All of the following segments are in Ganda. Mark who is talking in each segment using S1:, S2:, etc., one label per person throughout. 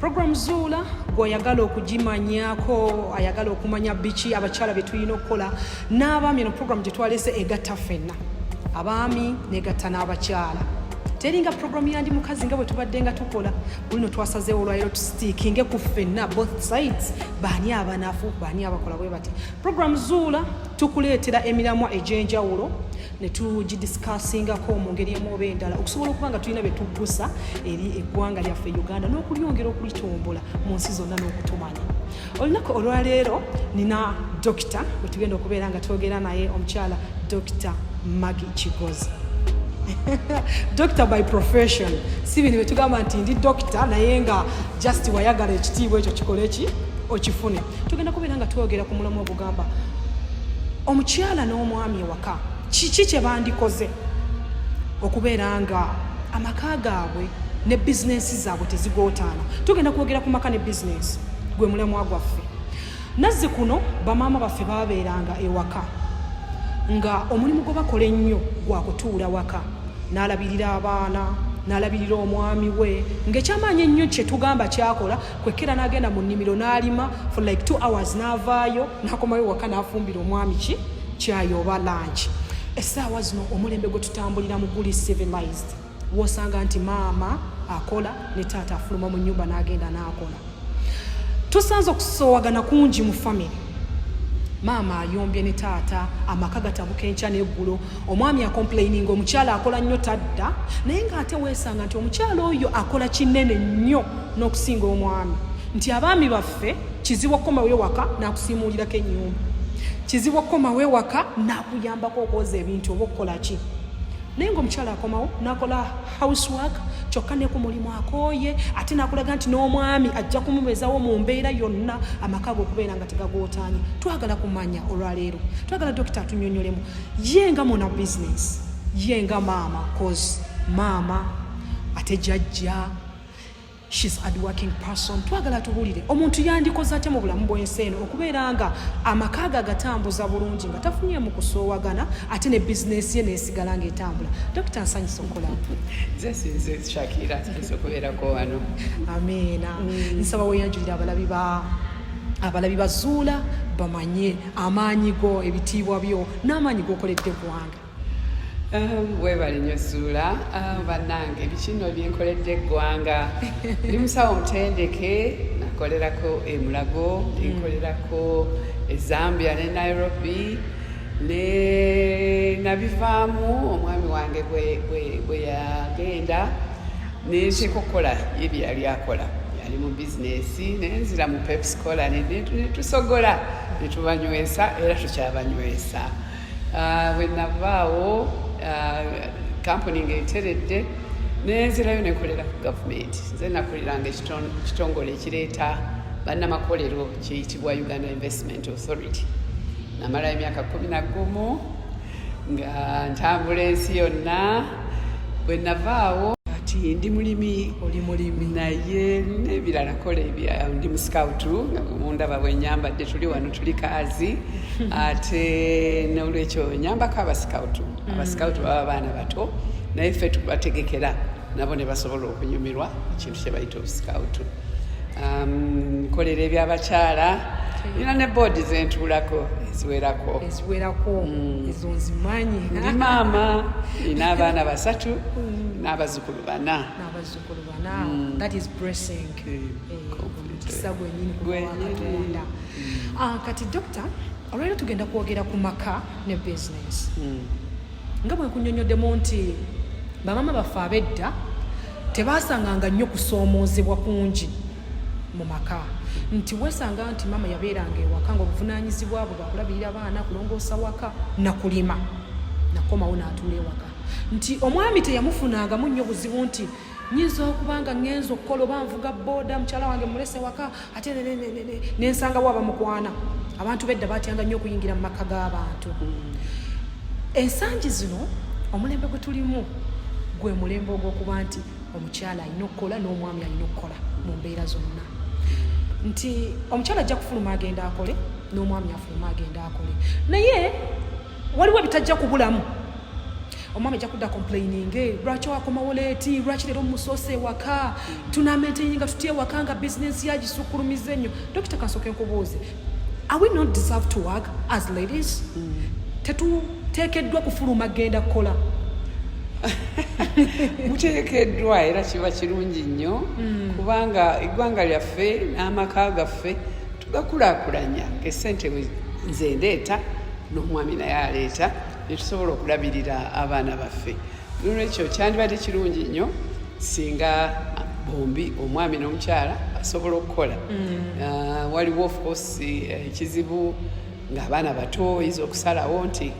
S1: Program Zuula gw'oyagala okugimanyako ayagala okumanya biki abakyala bye tulina okukola n'abaami eno program gye twalese egatta ffenna abaami negatta n'abakyala teringa program yandi mukazi nga bwe tubadde nga tukola bulino twasazeewo olwaliro tustikinge ku ffenna both sides baani abanafu baani abakola bwe bati program zuula tukuleetera emiramwa egy'enjawulo ne tugidisikaasingako mu ngeri emu oba endala okusobola okuba nga tulina bye tuggusa eri eggwanga lyaffe uganda n'okulyongera okulitombola mu nsi zonna n'okutumanya olunaku olwaleero nina dokita bwe tugenda okubeera nga twogera naye omukyala dokita magi kigozi doctor by profession si bino betugamba nti ndi dokita naye nga just wayagala ekitiibwa ekyo kikole ki okifune tugenda kubeera nga twogera ku mulamu ogugamba omukyala n'omwami ewa kiki kye bandikoze okubeera nga amaka gaabwe ne bizinensi zaabwe tezigootaana tugenda kwogera ku maka ne bizinensi gwe mulemwa gwaffe nazzi kuno bamaama baffe babeeranga ewaka nga omulimu gwe bakola ennyo gwa kutuula waka n'alabirira abaana n'alabirira omwami we ng'ekyamaanyi ennyo kye tugamba kyakola kwekera n'agenda mu nnimiro n'alima for like two hours n'avaayo n'akomayo waka n'afumbira omwami ki kyayi oba lanki essaawa zino omulembe gwe tutambulira mu guli civilized wosanga nti maama akola ne taata afuluma mu nyumba n'agenda n'akola tusanze okusowagana kungi mu famiry maama ayombye ne taata amaka gatabuka enkya n'eggulo omwami akomplaininga omukyala akola nnyo tadda naye ng'ate weesanga nti omukyala oyo akola kinene nnyo n'okusinga omwami nti abaami baffe kizibu okukomawo ewaka n'akusiimuulirako ennyumba kizibu okukomawo ewaka n'akuyambako okwoza ebintu oba okukola ki naye ngaomukyala akomawo nakola house work kyokka ne ku mulimu akooye ate nakulaga nti n'omwami ajja kumubezawo mu mbeera yonna amaka ge okubeera nga tegagootaanye twagala kumanya olwaleero twagala dokita atunyonyolemu ye nga muna bizinesi ye nga maama cause maama ate jajja She's hardworking person twagala tubulire omuntu yandikoze atya mu bulamu bw'ensi eno okubeera nga amaka ge agatambuza bulungi nga tafunyeemu kusoowagana ate ne bizinesi ye neesigala ng'etambula dokita nsanyisa okola
S2: shakira nsanyisa okubeerako wano amiina
S1: mm. nsaba weyanjulira abalabi ba abalabi bazuula bamanye amaanyi go ebitiibwa byo n'amaanyi gokoledde eggwanga Um,
S2: webale nyo suula um, bannange bikino byenkoledde eggwanga ndi musawo omutendeke nakolerako emulago nenkolerako mm. ezambia ne nairobi ne nabivaamu omwami wange bwe yagenda nenteeka okukola yebye yali akola yali mu bizinesi nenzira mu pepscola netusogola netubanywesa era tukyabanywesa Ah, bwe navaawo kampuni ah, ng'eteredde nenzirayo nekolera ku gavumenti nze nakoleranga ekitongole ekireeta bannamakolero kiyitibwa uganda investment authority namalayo emyaka kumi nagumu nga ntambula ensi yonna bwe navaawo kati ndi mulimi oli mulimi
S1: naye
S2: nebirala kola ebya ndi musikawutu mundaba bwenyambadde tuli wano tuli kaazi ate nolwekyo nyambako abasikawutu mm. abasikawutu baba baana bato naye ffe tubategekera nabo ne basobola okunyumirwa kyebayita obusikawutu um, nkolera ebyabakyala nina ne boodi zentuulako eziwerako eziwerako mm.
S1: ezo nzimanyi ndi maama
S2: nina abaana basatu mm. n'abazukulu bana n'abazukulu bana mm.
S1: that is blessing eh, mukisa gwenyini kuwakatonda ah, kati dokita olwaliro tugenda kwogera ku maka ne business nga bwe nkunyonyoddemu nti bamaama baffe ab'edda tebaasanganga nnyo kusoomoozebwa kungi mu maka nti weesanga nti maama yabeeranga ewaka nga obuvunaanyizibwa bwe bwakulabirira baana kulongoosa waka nakulima nakomawo n'atuula ewaka nti omwami teyamufunangamu nnyo buzibu nti nyinza okuba nga ŋenza okukola oba nvuga booda mukyala wange mulese waka ate nensangawo abamukwana abantu bedda batyanga nnyo okuyingira mu maka g'abantu mm. ensangi zino omulembe gwe tulimu gwe mulembe ogw'okuba nti omukyala alina okukola n'omwami alina okukola mu mbeera zonna nti omukyala ajja kufuluma agenda akole n'omwami afuluma agenda akole naye waliwo ebitajja kubulamu omwami ajja kudda complaininge lwaki wakomawo leeti lwaki leero musoose ewaka tunamenteyininga tuty ewaka nga bizinensi yagisukulumiza ennyo dokita kansooka enkubuuzi are we not deserve to work as ladies mm. tetuteekeddwa kufuluma genda kukola
S2: muteekeddwa era kiba kirungi nnyo hmm. kubanga eggwanga lyaffe n'amaka gaffe tugakulaakulanya esente nze ndeeta n'omwami naye aleeta netusobola okulabirira abaana baffe nolwekyo kyandibadde kirungi nnyo singa bombi omwami n'omukyala basobola okukola mm. ah, waliwo ofcourse eh, ekizibu ng'abaana bato oyinza okusalawo nti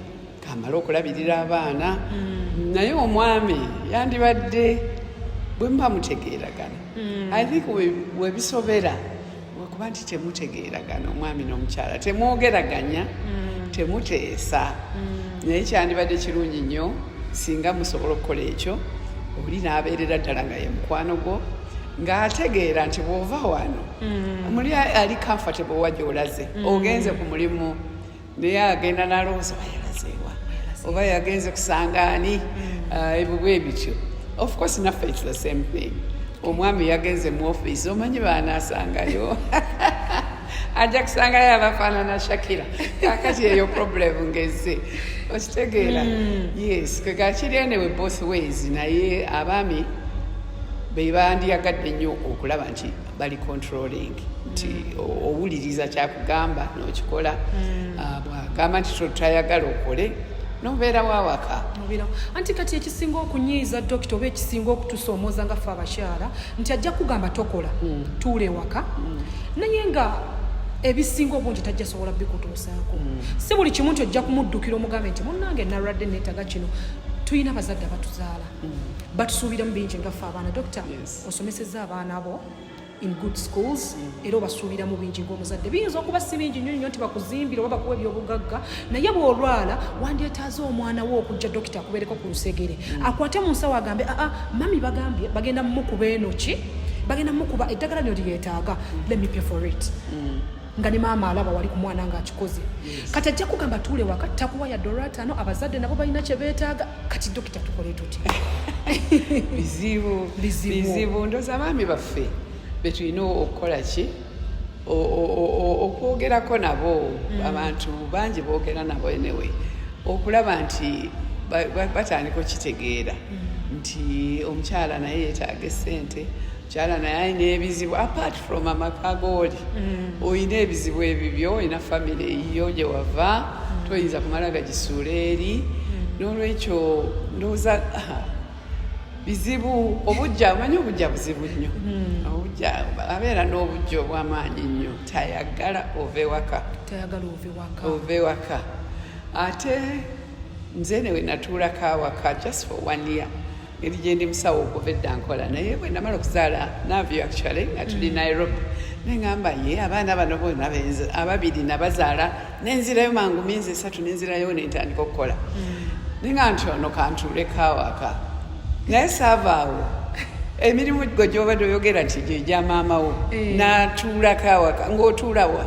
S2: kamala okulabirira abaana mm. naye omwami yandibadde bwe muba mutegeeragana mm. i think webisobera we lwakuba nti temutegeeragana omwami n'omukyala temwogeraganya mm. temuteesa mm. naye kyandibadde kirungi nnyo singa musobola okukola ekyo oli n'abeerera ddala nga ye mukwano gwo ng'ategeera nti bw'ova wano mm. muli ali comfortable wa gy'olaze ogenze ku mulimu naye agenda nalowooza bayalazeewa oba yagenze kusanga ani mm. ah, ebibwa ebityo of course naffe its the same thing omwami yagenze mu office omanyi baanasangayo ajja kusangayo abafaanana shakira kakati eyo problem ngeze okitegeera mm. yes kegakiri enewe both ways naye abaami bebandiyagadde nnyo okulaba nti bali controlling nti mm. owuliriza kyakugamba nokikola mm. ah, bwagamba nti tayagala okole nobeera wawaka anti kati
S1: ekisinga okunyiiza dokita oba ekisinga okutusoomoza nga fe abakyala nti ajja kugamba tokola mm. tuula ewaka naye nga ebisinga obungi tajja sobola bikutuusaako si buli kimu nti ojja kumuddukira omugambe nti munange nalwadde neetaga kino tulina abazadde abatuzaala batusuubiramu bingi nga fe abaana dokita osomesezza abaana bo in good schools era obasuubiramu bingi ngaomuzadde biyinza okuba si bingi nyo nyo nti bakuzimbira oba bakuwa ebyobugagga naye bwolwala wandyetaaza omwana wo okujja dokita akubeereko ku lusegere mm. akwate mu nsawo agambe aa ah, ah, mami bagambye bagenda mumukuba enoki bagenda mumukuba eddagala nyo lyetaaga let me pay for it mm. nga ne maama alaba wali ku mwana ng'akikoze kati ajja kugamba tuule waka takuwa ya dola ataano abazadde nabo balina kye beetaaga kati dokita tukole tuti bizibu
S2: bizibu ndoza abaami baffe betulina okukola ki okwogerako nabo mm. abantu bangi boogera nabo enewe okulaba nti batandika okitegeera mm. nti omukyala naye yetaaga esente kyala naye alina ebizibu apart from amaka gooli mm. olina ebizibu ebibyo olina famiry eyiyo gye wava mm. toyinza kumala gagisuula eri mm. n'olwekyo ndowooza ah, bizibu obujja omanyi obujja buzibu nnyo obujja abeera n'obujja obw'amaanyi nnyo tayagala ove waka ove waka ate nze newe natuulako awaka just for one year eri gyendi musawo okuva edda nkola naye bwe namala okuzaala navyo actually nga tuli mm. nairobi neŋamba ye abaana bano bona ababiri nabazaala nenzirayo mangu minzi esatu nenzirayo nentandika okukola mm. ninga nti ono kantuulekawaka naye saavaawo emirimu gwe gyobadde oyogera nti gyegya maamawo eh. natuulako awaka ngaotuulawa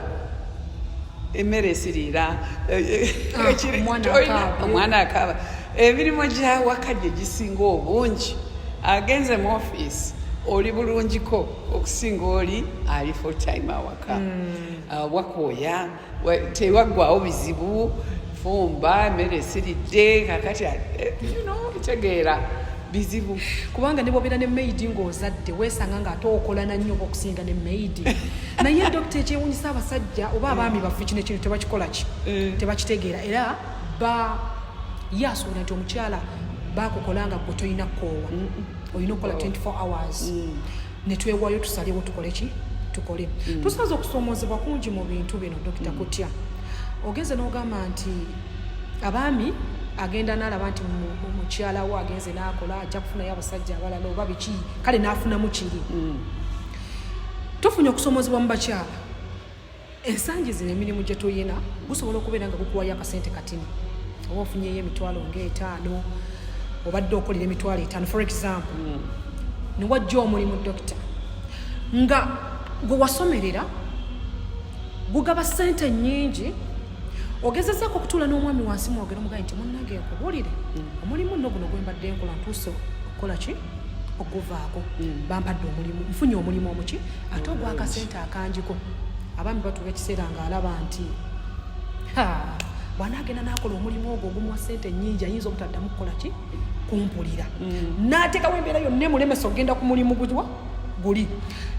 S2: emmere esiriira ah, eh, eh, omwana akaaba emirimu gyawaka gye gisinga obungi agenze mu ofiisi oli bulungiko okusinga oli ali full time awaka hmm. uh, wakooya tewaggwawo bizibu fumba emmere esiridde kakati eh, kitegeera bizibu kubanga nebobeera
S1: ne maidi ngaozadde wesanga nga ate okolana nnyo okusinga ne maidi naye dokita ekyewunyisa abasajja oba abaami baffe kino ekintu tebakikolaki eh. tebakitegeera era ba ye asuubira nti omukyala bakukola nga gwe tolina kukoowa olina okukola 24 hours mm. netwewayo tusalewo tukole ki tukole mm. tusaza okusoomoozebwa kungi mu bintu bino dokita mm. kutya ogenze n'ogamba nti abaami agenda nalaba nti mukyala wo agenze nakola ajja kufunayo abasajja abalala oba biki kale nafunamu kiri tufunye okusomozebwa mu bakyala ensangi zino emirimu gye tulina gusobola okubeera nga gukuwayo akasente katini oba ofunyeyo emitwalo ngaetaano obadde okolera emitwalo etaano for example mm. newajja omulimu dokita nga gwe wasomerera gugaba sente nyingi ogezezako okutuula n'omwami wansi mwogere omugayi nti munange nkubuulire mm. omulimu nno guno gwembadde nkola ntuuse okukola ki okuvaako mm. bampadde omulimu nfunye omulimu omuki ate ogwakasente akanjiko abaami batuwa ekiseera ng'alaba nti bwanaagenda n'akola omulimu ogwo ogumuwa ssente nnyingi ayinza obutaddamu kukola ki kumpulira mm. n'ateekawo embeera yonna emulemesa okugenda ku mulimu guwa guli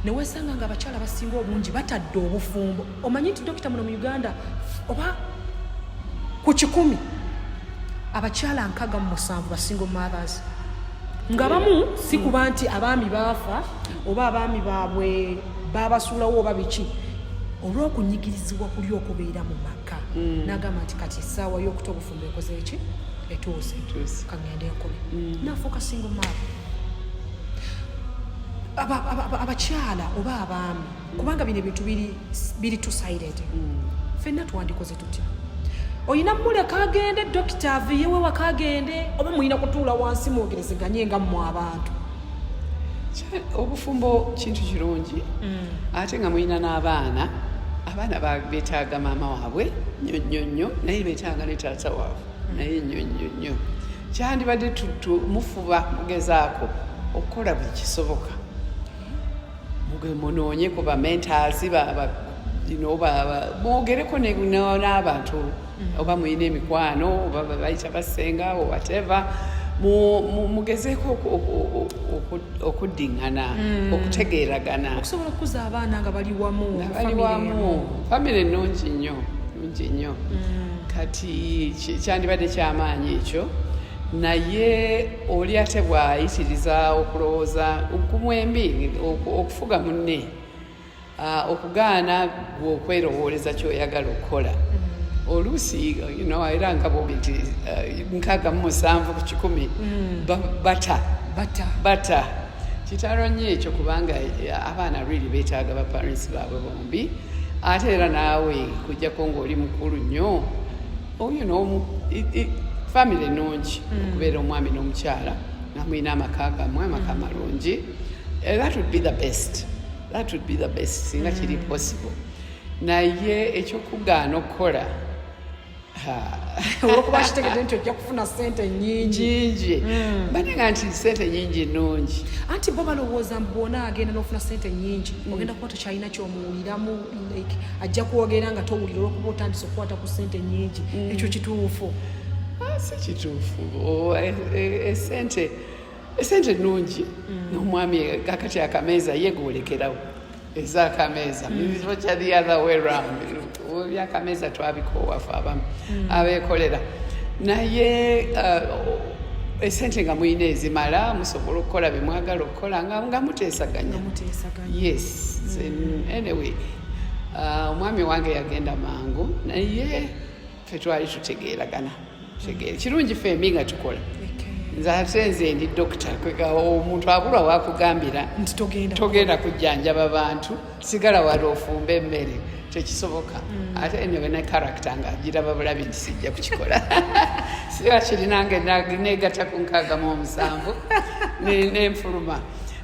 S1: newesanga nga abakyala basinga obungi batadde obufumbo omanyi nti dokita muno mu uganda oba ku kikumi abakyala nkaga mu musanvu basinga omumathers ngabamu si kuba nti abaami baafa oba abaami baabwe baabasuulawo oba biki olw'okunyigirizibwa kuli okubeera mu maka mm. n'agamba nti kati essaawa y'okuta obufumbo ekoze eki etuuse kagenda enkumi mm. nafuuka singo maaba abakyala oba abaami kubanga bino ebintu biri tusairete mm. fenna twandikoze olina muleka agende dokita aviyewe waka agende oba mulina kutuula wansi mwogerezeganye nga mmwe abantu obufumbo
S2: kintu kirungi mm. ate nga mulina n'abaana abaana betaaga maama waabwe nyo nyo nyo naye betaaga ne taata waabwe mm. naye nyo nyo nyo kyandibadde mufuba mugezaako okukola buli kisoboka mugwe munoonye ku bamentasi mwogereko n'abantu mm. oba mulina emikwano oba bayita basenga o whatever mugezeeko okuddiŋŋana mm. okutegeeragana okusobola okukuza
S1: abaana nga bali wamu nga bali wamu
S2: famire ennungi nnyo nungi nnyo mm. kati kyandibadde kyamaanyi ekyo naye oli ate bw'ayitiriza okulowooza kumwembi okufuga munne okugaana gwe okwerowooleza ky'oyagala okukola oluusi era nga bobi nti nkaaga mu musanvu ku kikumi mm. bata bata kitalo nnyo ekyo kubanga eh, abaana really beetaaga ba parents baabwe bombi ate era naawe kujjako ng'oli mukulu nnyo oyo n'omu famire nungi hmm. okubeera omwami n'omukyala nga mulina amaka gamwe amaka hmm. malungi eh, that would be the best that would be the best singa kiri hmm. possible naye ekyokugaana okukola
S1: olwokuba kitegedde nti ojja kufuna sente nyingi banenga nti sente nyingi nungi anti bo balowooza mbu bwona agenda n'ofuna sente nyingi ogenda kuba tokyalina kyomuwuliramu like ajja kwogera nga towulira olwokuba otandise okukwata ku sente nyingi mm. ekyo kituufu ah, si
S2: kituufu oh, eh, eh, esente esente nungi mm. nomwami kakati akameeza yegolekerawo ezakameeza mizoca mm. the other way round byakameeza twabikoowafe abamu abekolera naye uh, esente nga mulina ezimala musobola okukola bemwagala kola nga nga muteesaganya yes mm. anyway uh, omwami uh, wange yagenda mangu naye fe twali tutegeeragana tegeere kirungi fe mbi nga tukola nze ate nze ndi dokita omuntu abulwa wakugambira togenda kujjanjaba bantu sigala wali ofumba emmere tekisoboka mm. ate eno bena karakita nga giraba bulabi nti sijja kukikola siba kirinange negata ku nkagamu omusanvu nenfuluma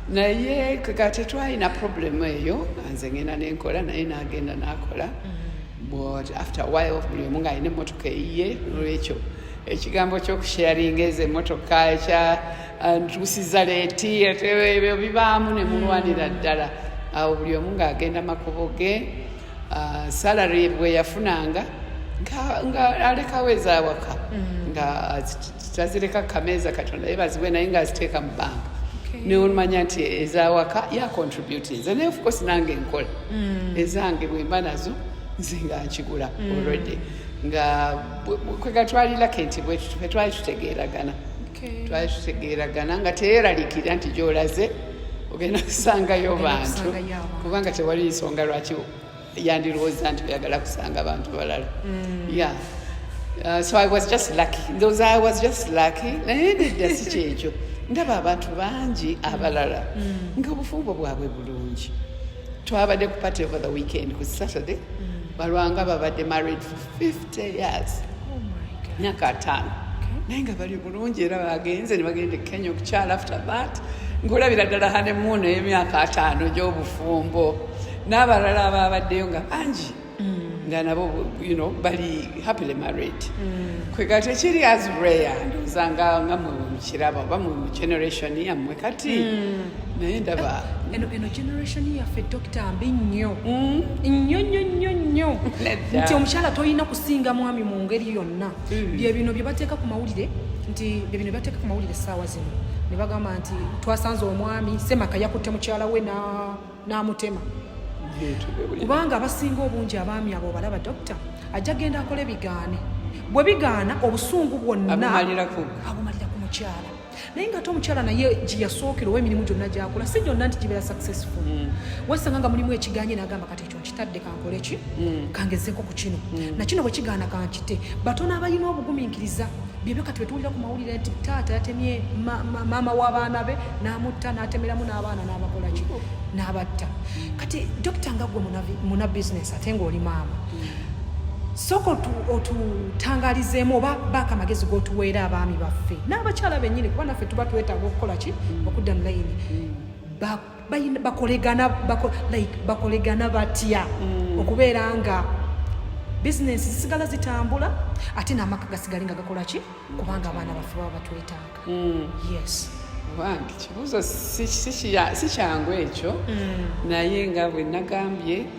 S2: naye ka tetwalina problemu eyo nze ngenda nenkola naye nagenda nakola mm. but after while buli omu ngaalina emotoka eyiye olwekyo ekigambo kyokusharinga ezo emotoka ekya ntuusiza leeti ebyo bibaamu ne mulwanira ddala awo buli omu ng'agenda makubo ge ah, salary bwe yafunanga nga alekawo ezawaka mm. nga tazireka kameeza katonda ye baziwe naye ng'aziteeka mu banka neolumanya nti ezawaka yacontributi nze naye ofcourse nange nkola mm. ezange bwemba nazo nze nga nkigula mm. already nga kwegatwalirako nti bwetwali tutegeeragana twali tutegeeragana nga teyeralikira nti gyolaze ogenda kusangayo bantu kubanga tewali nsonga lwaki yandirowooza nti oyagala kusanga bantu balala mm. ya uh, so i was just lucky those i was just lucky naye nedda si kyekyo ndaba abantu bangi abalala mm. nga obufumbo bwabwe bulungi twabadde ku party over the weekend ku saturday mm. balwanga babadde married for 5 years myaka ataano naye nga bali bulungi era bagenze ne bagenda e kenya okukyala after that nkulabira ddala hanemuuno ey'emyaka ataano gy'obufumbo n'abalala abaabaddeyo nga bangi mm. nga nabo you know bali happily married mm. kwegati ekiri as rare ndowooza nga nga mulungi kiraba oba mu generation yammwe kati hmm. naye ndaba eh, eno eno generation
S1: yaffe dokita mbi nnyo hmm? nnyo nnyo nnyo nnyo nti omukyala tolina kusinga mwami mu ngeri yonna hmm. bye bino bye bateeka ku mawulire nti bye bino byebateeka ku mawulire essaawa zino ne bagamba nti twasanze omwami semaka yakutte mukyala we na n'amutema kubanga abasinga obungi abaami abo obalaba dokita ajja genda akola ebigaane bwe bigaana obusungu bwonna abumalira ku mukyala naye nga ate omukyala naye gyeyasookera owa emirimu gyonna gyakola si gyonna nti gibeera successful mm. wesanga nga mulimu ekiganye nagamba kati ekyo kadde kankole ki mm. kangezeko ku kino mm. nakino bwe kigaana kankite batono abalina obugumiikiriza byebyo kati betuwulira ku mawulire nti taata yatemye maama w'abaana be n'amutta n'atemeramu n'abaana n'abakola ki n'abatta kati dokita nga gwe muna bizinesi ate ng'oli maama sooka otutangalizeemu oba baako amagezi g'otuweera abaami baffe n'abakyala bennyini kuba naffe tuba twetaaga okukola ki okudda mu layini mm. bakolegana like bakolegana batya mm. okubeera nga bizinensi zisigala zitambula ate n'amaka gasigale nga gakola ki kubanga abaana baffe baba batwetaaga mm. yes bange
S2: kibuuzo si kyangu ekyo mm. naye nga bwe nagambye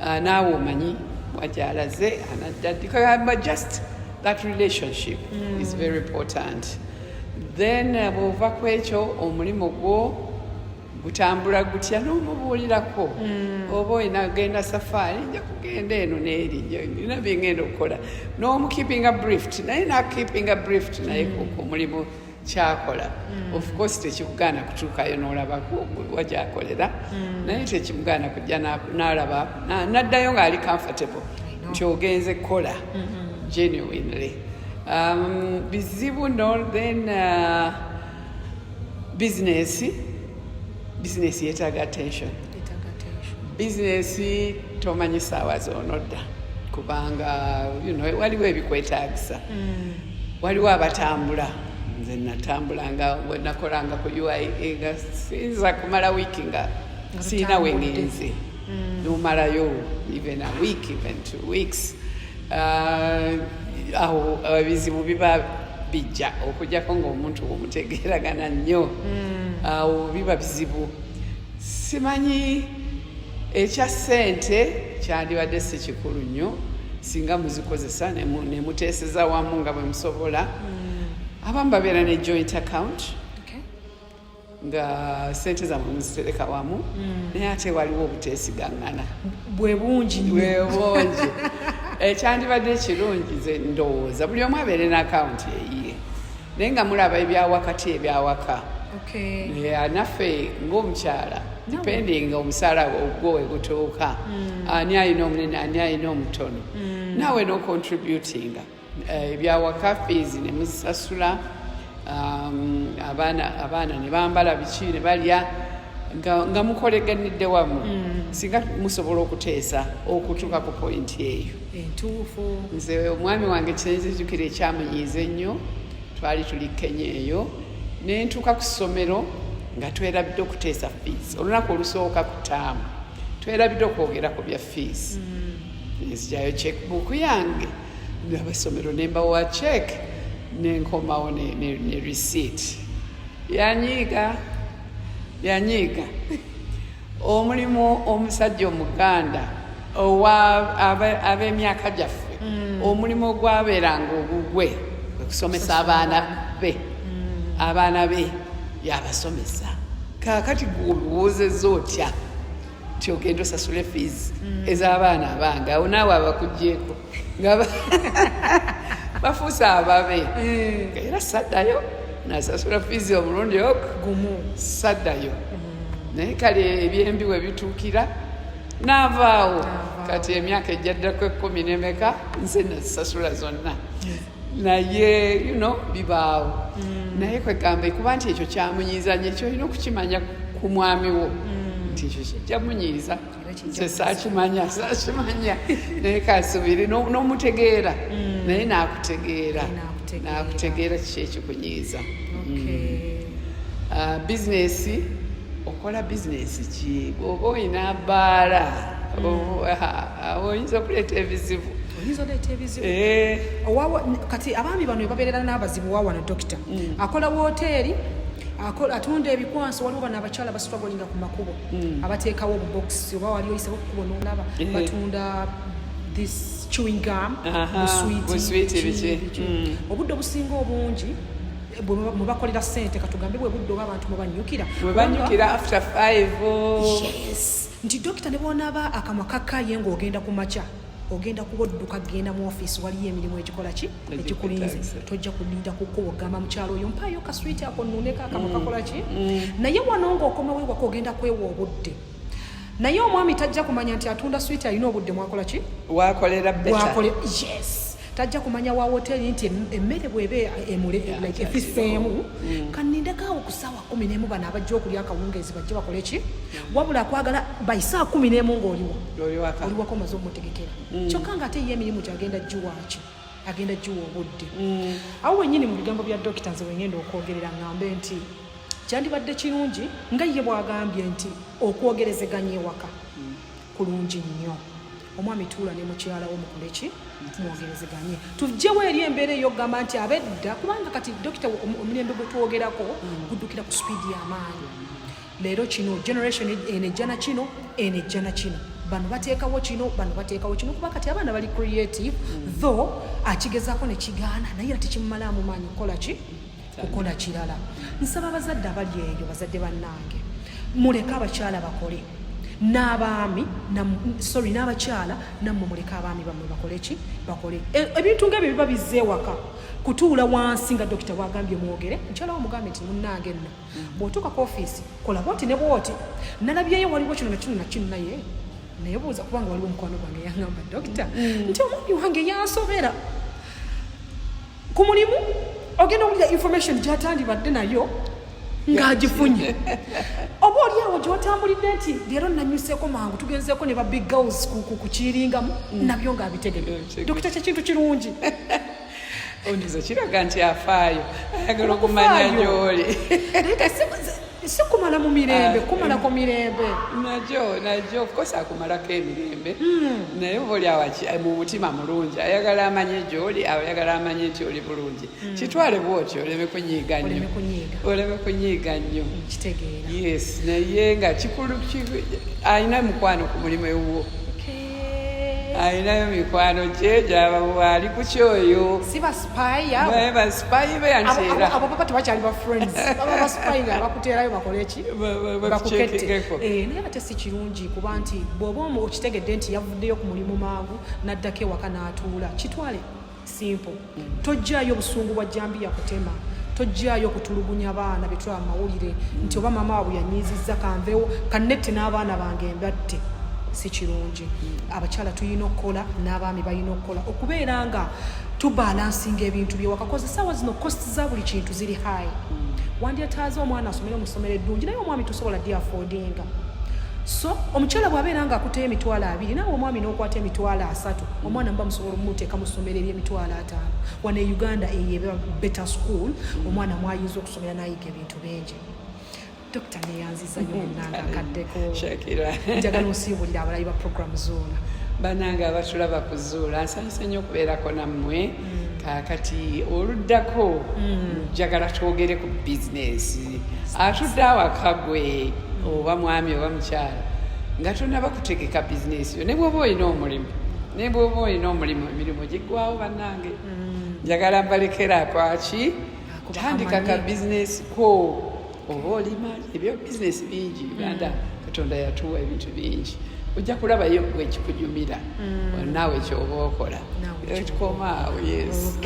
S2: ah, naawe omanyi wagyalaze anaddaddikagamba just that relationship mm. is very important then uh, bwova ku ekyo omulimu gwo gutambula gutya n'omubuulirako mm. oba olina genda safaari nja kugenda eno neeri nina byengenda okukola n'omukeepinga brift naye nakeepinga brift naye mm. ku mulimu kyakola mm. of course tekikugaana kutuukayo n'olaba wa gyakolera mm. naye tekimugaana kujja n'alaba n'addayo ng'ali comfortable nti ogenze kukola mm-hmm. genuinely um, bizibu no then uh, bizinesi bizinesi yeetaaga attention bizinesi tomanyi saawa zonodda kubanga you know, waliwo ebikwetagisa mm. waliwo abatambula nze natambulanga nakolanga ku uia e nga sinza kumala wiiki nga siina wengenzi mm. nomalayo even a week even two weeks uh, awo uh, ebizibu biba bijja okujjako ngaomuntu omutegeeragana nnyo mm. awo biba bizibu simanyi ekya ssente kyandibadde si kikulu nnyo singa muzikozesa nemuteeseza wamu nga bwe musobola hmm. abamu babeera ne joint account nga sente zamwe muzitereka wamu hmm. naye ate waliwo obuteesigangana bwe bungi
S1: bwe bungi
S2: ekyandibadde ekirungi ze ndowooza buli omu abeere n'akawunti eyiye naye nga mulaba ebyawakati ebyawaka naffe ngaomukyala depending omusala ogwo wegutuuka hmm. ani alina omunene ani alina omutono hmm. nawe nocontributinga eh, ebyawaka fees nemuzisasula um, abaana nebambala biki nebalya nga mukoleganidde wamu hmm. singa musobola okuteesa okutuuka ku pointi eyo entuufu
S1: nze omwami
S2: wange kyenzijukira ekyamunyiiza ennyo twali tuli kenya eyo nentuuka ku ssomero nga twerabidde okuteesa fees olunaku olusooka ku taamu twerabidde okwogera ku bya fees mm. nzijayo checkbook yange abasomero nembawa check nenkomawo ne, ne, ne receipt yanyiiga yanyiiga omulimu omusajja omuganda owa ab'emyaka gyaffe mm. omulimu ogwabeeranga ogugwe okusomesa abaana be mm. abaana be yabasomesa kakati gwobiwoozeza otya nti ogenda osasule fees mm. ez'abaana abange awo naawe abakugyeko nga bafuuse ababe eh. era saddayo nasasula fees omulundi ok gumu saddayo mm. naye kale ebyembi we bituukira n'avaawo kati emyaka ejjaddako ekkumi nemeka nze nazisasula zonna naye you know bibaawo mm. naye kwegamba ekuba nti ekyo kyamunyiiza nyo ekyo olina okukimanya ku mwami wo mm. nti ekyo kijja munyiiza sakimanya sakimanya naye kasubiri nomutegeera mm. naye nakutegeera nakutegeera kiki ekikunyiiza mm. ah, bizinesi okola bizinesi ki oba olina baala mm. oh, ah, ah, oyinza okuleeta ebizibu oyinza oleeta ebizibu eh.
S1: kati abaami bano ebabeerera n'abazibu wawano dokita akola woteeri atunda ebikwanso waliwo bano abakyala basitwagolinga ku makubo mm. abateekawo obubokisi oba wali oyisabo kukuba nolaba eh. batunda this chewing gum buswiti mm. obudde obusinga obungi mubakolera sente katugambe bwe budde oba abantu mubanyukira nti dokita ne bwonaaba akamwa kakaye ngaogenda ku makya ogenda kuba odduka genda mu ofiisi waliyo emirimu egikola ki egikulinze tojja kulinda kukuba ogamba mukyalo oyo mpaayo kaswiti ako nuneko akamu mm. kakola ki mm. naye wano nga okomawo ewaka ogenda kwewa obudde naye omwami tajja kumanya nti atunda switi alina obudde mwakola ki wakolera
S2: wakole yes
S1: tajja kumanya wa woteri nti emmere bwebe emule like efiseemu mm. kanindekaawo kusawa kumi nemu bano abajja okulya akawungeezi bajja bakole ki wabula kwagala baisaa kumi nemu ngaoliwo oliwako omaze omutegekera mm. kyokka nga ate ye emirimu gyagenda giwaaki agenda giwa obudde mm. awo wenyini mu bigambo bya dokita nze wengenda okwogerera ngambe nti kyandibadde kirungi nga ye bwagambye nti okwogerezeganya ewaka kulungi nnyo omwami tuula ne mukyala wo mukoleki mwogerezeganye tujjewo eri embeera eyokugamba nti abedda kubanga kati dokita omulembe gwe twogerako mm. guddukira ku sipiidi y'amaanyi leero kino generation e-, eno ejjana kino eno ejjana kino bano bateekawo kino bano bateekawo kino kuba kati abaana bali creative mm. though akigezaako ne kigaana naye era tekimumalaamu maanyi kukola ki kukola kirala nsaba abazadde abali eyo bazadde bannange muleke abakyala bakole n'abaami sorry n'abakyala nammwe muleke abaami bammwe bakole ki bakole e, ebintu nga ebyo biba bizza ewaka kutuula wansi nga dokita bwagambye mwogere mukyala wo mugambe nti munnange nno bw'otuuka ku ofiisi kola bwoti ne bwoti nalabyeyo waliwo kino nakino nakino naye naye buuza kubanga waliwo omukwano gwange yangamba dokita mm. nti omwami wange yansobera ku mulimu ogenda owulira information gyatandibadde nayo ng'agifunye oba oli awo gyotambulidde nti leero nanyuseeko mangu tugenzeeko ne ba big girls kukiiringamu mm. nabyo ng'abitegere mm, dokita kyekintu kirungi
S2: ondiza kiraga nti afaayo ayagala okumanya gyoli
S1: si kumala mu mirembe ah, kumalako eh. mirembe najo najo
S2: ofcourse akumalako emirembe hmm. naye oba oli awaki eh, mu mutima mulungi ayagala amanye gyoli ayagala amanye nti oli bulungi hmm. kitwale bwotyo oleme kunyiiga nnyo oleme kunyiiga nnyo hmm, yes
S1: naye
S2: nga kikulu alina mukwano ku mulimu ewuwo alinayo mikwano gye gyabawaali ku kyoyo
S1: sibasipayibasipayibwe
S2: yanteeraabo baba tebakyali
S1: bafriends baba basipayi nga bakuteerayo bakoleki bakuketteko eh, naye ate si kirungi kuba nti bw'oba okitegedde nti yavuddeyo ku mulimu mangu n'addako ewaka n'atuula kitwale simple tojjaayo obusungu bwa jambiya kutema tojjaayo kutulugunya baana betula amawulire nti oba maama wabwe yanyiizizza kanvewo kanette n'abaana bange mbatte si kirungi abakyala tulina okukola n'abaami balina okukola okubeera nga tubalansinga ebintu byewakakoze saawa zino kost za buli kintu ziri hai wandyetaaza omwana asomere mu ssomero eddungi naye omwami tosobola di afodinga so omukyala bwabeera nga akuteyo emitwalo abiri naawe omwami nokwata emitwalo asatu omwana muba olumuteeka mu ssomero ery'emitwalo ataano wano e uganda eyo beta school omwana mwayinza okusomera nayiga ebintu bingi dokita neyanziza nyo munanga akaddeko njagala osiibulira abalayi ba programu zoona banange abatulaba
S2: kuzuula nsanyuse nnyo okubeerako nammwe mm. kakati oluddako mm. njagala twogere ku bizinesi atudde awaka gwe oba mwami oba mukyala nga tonaba kutegeka bizinesi yo ne bwoba olina omulimu ne bwoba olina omulimu emirimu giggwawo bannange mm. njagala mbalekera kwaki tandika ka bizinesi ko oba olima ebyo bizinesi bingi uganda mm. katonda yatuwa ebintu bingi ojja kulabayo gwe ekikujumira mm. naawe kyoba okola ekikomaawo yes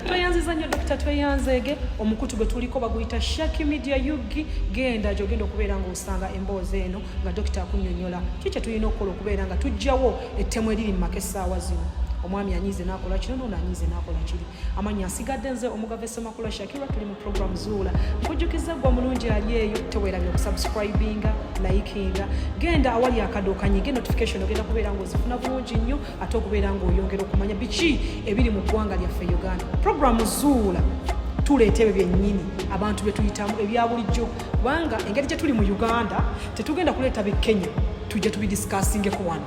S2: tweyanziza nnyo
S1: dokita tweyanzeege omukutu gwe tuliko baguyita shaki media yugi genda gyogenda okubeera nga osanga emboozi eno nga dokita akunyonyola ki kye tulina okukola okubeera nga tujjawo ettemu eriri mu maka essaawa zino omwami anyize nakola kino nono anyize nakola kiri amannya nsigadde nze omugave semakula shakira tuli mu program zuula nkujjukiza gwa mulungi ali eyo tewerabye okusubscribinga likinga genda awali akadokanyi ge notification ogenda kubeera ngaozifuna bulungi nnyo ate okubeera ngaoyongera okumanya biki ebiri mu ggwanga lyaffe uganda program zuula tuleeta ebyo byennyini abantu bye tuyitamu ebya bulijjo kubanga engeri gye tuli mu uganda tetugenda kuleeta bi kenya tujja tubidisikasingeku wano